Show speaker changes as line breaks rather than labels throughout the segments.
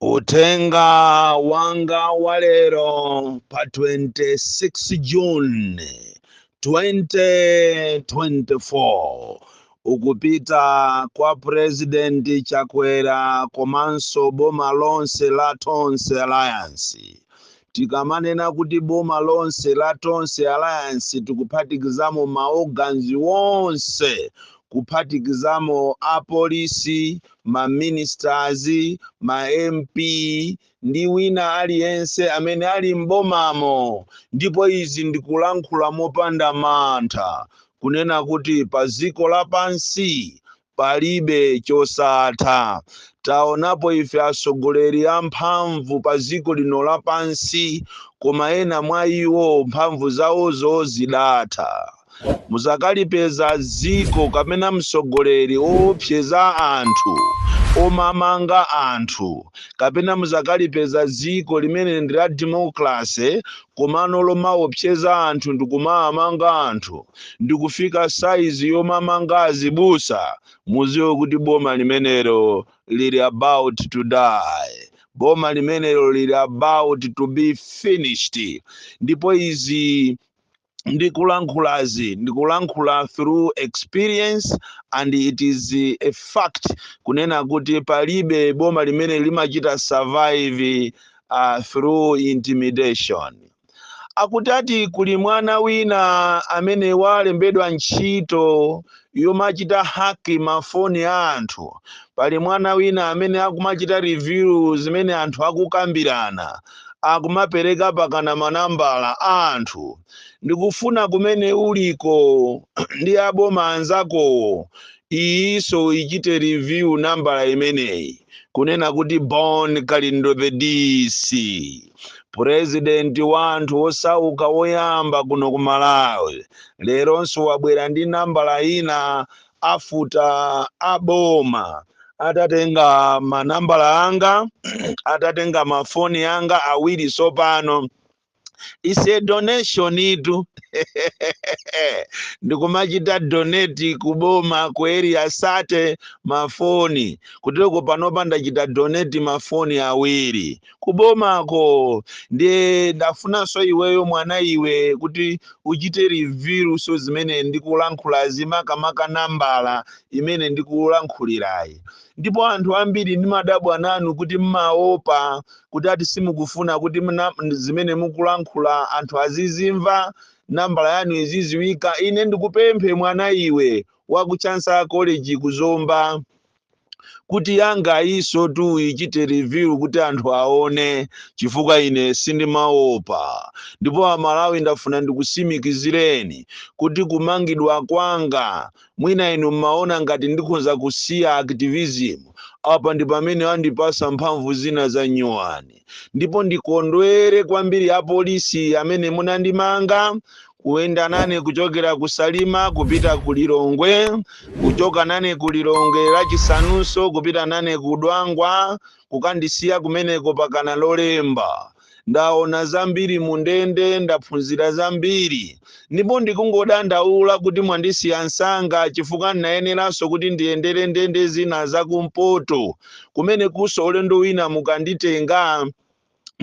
Uthenga wanga wa lero pa 26 June 2024 ukupita kwa President Chakwera komanso boma lonse la Tonse Alliance Tikamanena kuti boma lonse la Tonse Alliance tikuphatikizamo ma organs onse, kuphatikizamo a police, ma ministers, ma MP ndi wina aliyense amene ali m'bomamo ndipo izi ndikulankhula mopanda mantha kunena kuti pa dziko lapansi palibe chosatha. Taonapo ife atsogoleri amphamvu pa dziko lino lapansi, koma ena mwa iwo mphamvu zawozo zidatha. Muzakalipeza dziko kapena mtsogoleri owopseza anthu, omamanga anthu, kapena muzakalipeza dziko limene ndi la democracy komano lomawopseza anthu ndikumaamanga anthu. ndikufika saizi yomamanga azibusa muziwe kuti boma limenelo lili about to die boma limenelo lili about to be finished ndipo izi ndikulankhulazi ndikulankhula through experience and it is a fact kunena kuti palibe boma limene limachita survive uh, through intimidation Akutati kuli mwana wina amene walembedwa ntchito yomachita hack ma phone a anthu. Pali mwana wina amene akumachita review zimene anthu akukambirana. Akumapereka pakana ma nambala a anthu. Ndikufuna kumene uliko ndi aboma anzakowo iyinso uchite review nambala imeneyi kunena kuti Bon Kalindo the DC president wa anthu wosauka woyamba kuno ku Malawi leronso wabwera ndi nambala ina after aboma atatenga manambala anga atatenga mafoni anga awiri sopano ise donationitu ndikumachita donate kuboma ku Area 30 mafoni kuteroko panopa ndachita donate mafoni awiri kubomako ndiye ndafunanso iweyo mwana iwe kuti uchite reviewnso zimene ndikulankhulazi makamaka nambala imene ndikulankhulirayi ndipo anthu ambiri ndimadabwa nanu kuti mmaopa kuti ati simukufuna kuti mna- m- zimene mukulankhula anthu azizimva nambala yanu iziziwika ine ndikupemphe mwana iwe wa ku chancellor college ku zomba kuti yanga iyiso tu ichite review kuti anthu aone chifukwa ine sindimaopa ndipo amalawi ndafuna ndikusimikizireni kuti kumangidwa kwanga mwina inu mmaona ngati ndikhonza kusiya activism apa ndi pamene andipasa mphamvu zina za nyuwani ndipo ndikondwere kwambiri apolisi amene munandimanga kuyenda nane kuchokera ku salima kupita ku lilongwe kuchoka nane ku lilongwe lachisanunso kupita nane ku dwangwa kukandisiya kumeneko pakana lolemba ndaona zambiri mu ndende ndaphunzira zambiri ndipo ndikungodandaula kuti mwandisiya msanga chifukwa ndinayeneranso kuti ndiyendere ndende zina zakumpoto kumene kunso ulendo wina mukanditenga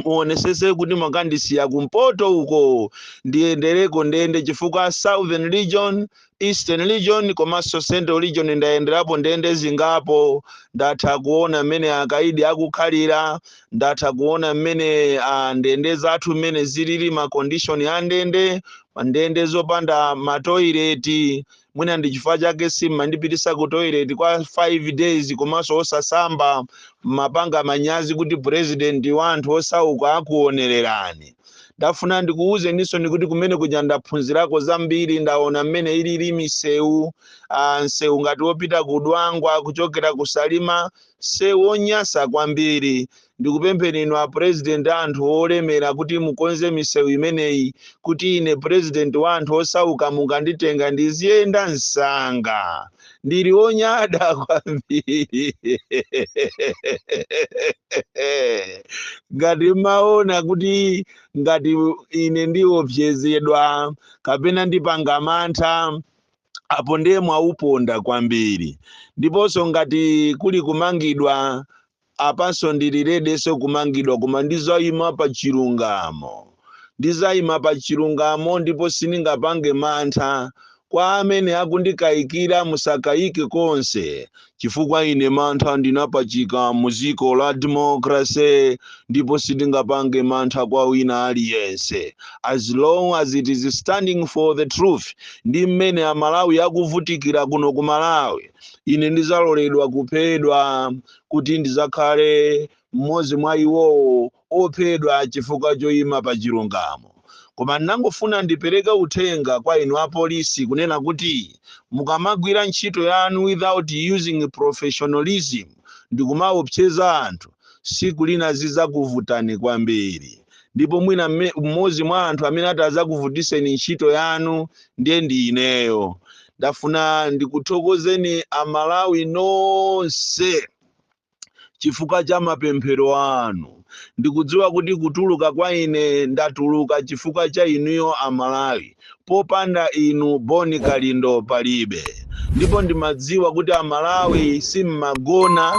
muonesese kuti mwakandisiya kumpoto uko ndiyendereko ndende chifukwa southern region Eastern region komanso Central region ndayenderapo ndende zingapo ndatha kuona mmene akaidi akukhalira ndatha kuona mmene ah, ndende zathu mmene zilili ma condition a ndende ndende zopanda matoileti mwina ndi chifukwa chake simmandipitisa ku toilet kwa 5 days komanso osasamba mmapanga manyazi kuti president wa anthu osauka akuonererani ndafuna ndikuwuzeninsoni kuti kumene kuja ndaphunzirako zambiri ndaona mmene ilili misewu ah, msewu ngati wopita ku dwangwa kuchokera ku salima msewu wonyasa kwambiri ndikupempheni inu a president a anthu olemera kuti mukonze misewu imeneyi kuti ine president wa anthu osauka mukanditenga ndiziyenda msanga ndili onyada kwambiri ngati mmaona kuti ngati ine ndiopsezedwa kapena ndipanga mantha apo ndiye mwauponda kwambiri ndiponso ngati kuli kumangidwa Apanso ndili ready nso kumangidwa koma ndizaima pa chilungamo. Ndizaima pa chilungamo ndipo sindingapange mantha. Kwa amene akundikaikira musakaike konse chifukwa ine mantha ndinapachika mu dziko la democracy ndipo sindingapange mantha kwa wina aliyense as long as it is standing for the truth ndi mmene amalawi akuvutikira kuno ku malawi ine ndidzaloledwa kuphedwa kuti ndidzakhale mmodzi mwa iwowo ophedwa chifukwa choyima pa chilungamo koma ndinangofuna ndipereke uthenga kwa inu apolisi kunena kuti mukamagwira ntchito yanu without using professionalism ndikumaopseza anthu tsiku lina zidzakuvutani kwambiri ndipo mwina mmodzi mwa anthu amene atadzakuvutitseni ntchito yanu ndiye ndi ineyo ndafuna ndikuthokozeni amalawi nonse chifukwa cha mapemphero anu ndikudziwa kuti kutuluka kwa ine ndatuluka chifukwa cha inuyo amalawi popanda inu bon kalindo palibe ndipo ndimadziwa kuti amalawi simmagona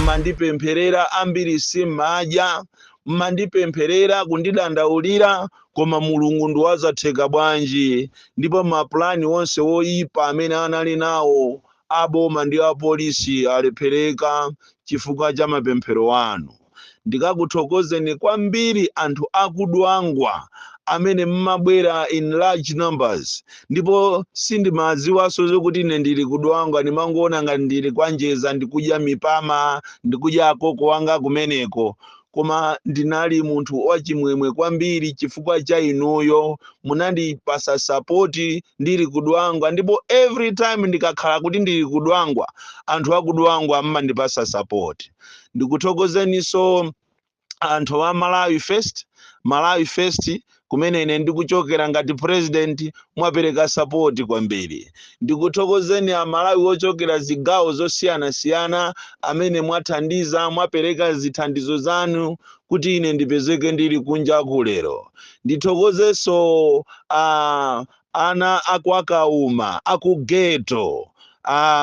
mmandipempherera ambiri simmadya mmandipempherera kundidandaulira koma mulungu ndiwazatheka bwanji ndipo mapulani onse oyipa amene anali nawo aboma ndi apolisi alephereka chifukwa cha mapemphero anu ndikakuthokozeni kwambiri anthu akudwangwa amene mmabwera in large numbers ndipo sindimadziwanso zokuti ine ndili kudwangwa ndimangoona ngati ndili kwanjeza ndikudya mipama ndikudya akoko wanga kumeneko koma ndinali munthu wachimwemwe kwambiri chifukwa cha inuyo munandipatsa sapoti ndili kudwangwa ndipo every time ndikakhala kuti ndili kudwangwa anthu akudwangwa mmandipatsa sapoti ndikuthokozeninso anthu a malawi first malawi first kumene ine ndikuchokera ngati president mwapereka sapoti kwambiri ndikuthokozeni amalawi ochokera zigawo zosiyanasiyana amene mwathandiza mwapereka zithandizo zanu kuti ine ndipezeke ndili kunja kuno lero ndithokozenso a Ana a kwa Kauma, a ku ghetto,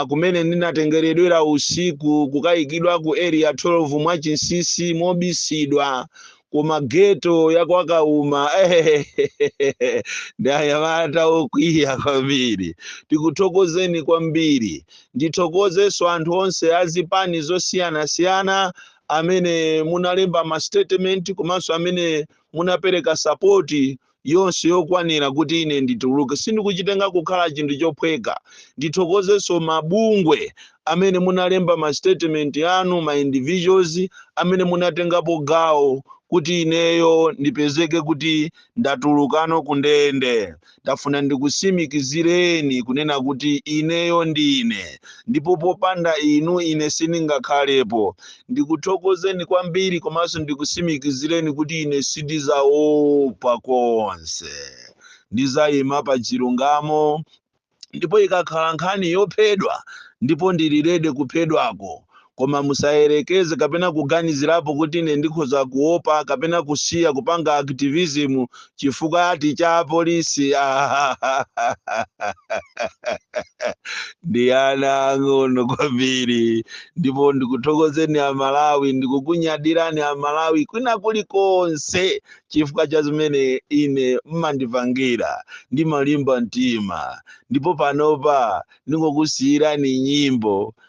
kumene ndinatengeredwera usiku kukaikidwa ku Area 12 mwachinsinsi, mobisidwa, koma ghetto ya kwa Kauma, ehehehe, ndi anyamata okwiya kwambiri. Ndikuthokozeni kwambiri. Ndithokozenso anthu onse a zipani zosiyanasiyana amene munalemba ma statement komanso amene munapereka sapoti yonse yokwanira kuti ine ndituluke. Sindikuchitenga kukhala chinthu chophweka. Ndithokozenso mabungwe amene munalemba ma statement anu, ma individuals amene munatengapo gawo kuti ineyo ndipezeke kuti ndatulukano ku ndende. Ndafuna ndikutsimikizireni kunena kuti ineyo ndine, ndipo popanda inu ine sindingakhalepo. Ndikuthokozeni kwambiri komanso ndikusimikizireni kuti ine sindizaopa konse. Ndizayima pa chilungamo ndipo ikakhala nkhani yophedwa ndipo ndili ready kuphedwako. Koma musayerekeze kapena kuganizirapo kuti ine ndikhoza kuopa kapena kusiya kupanga activism chifukwa ati cha apolisi ndi ana ang'onoang'ono kwambiri ndipo ndikuthokozeni amalawi ndikukunyadirani amalawi kwina kulikonse chifukwa cha zimene ine mmandipangira ndimalimba mtima ndipo panopa ndingokusiyirani nyimbo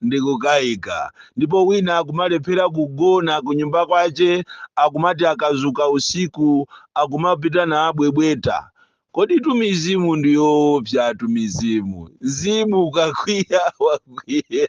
ndikukaika. Ndipo wina akumalephera kugona kunyumba kwache akumati akazuka usiku akumapita nabwebweta. Koditu mizimu ndi yoopsatu mizimu. Mzimu ukakwiya wakwiya.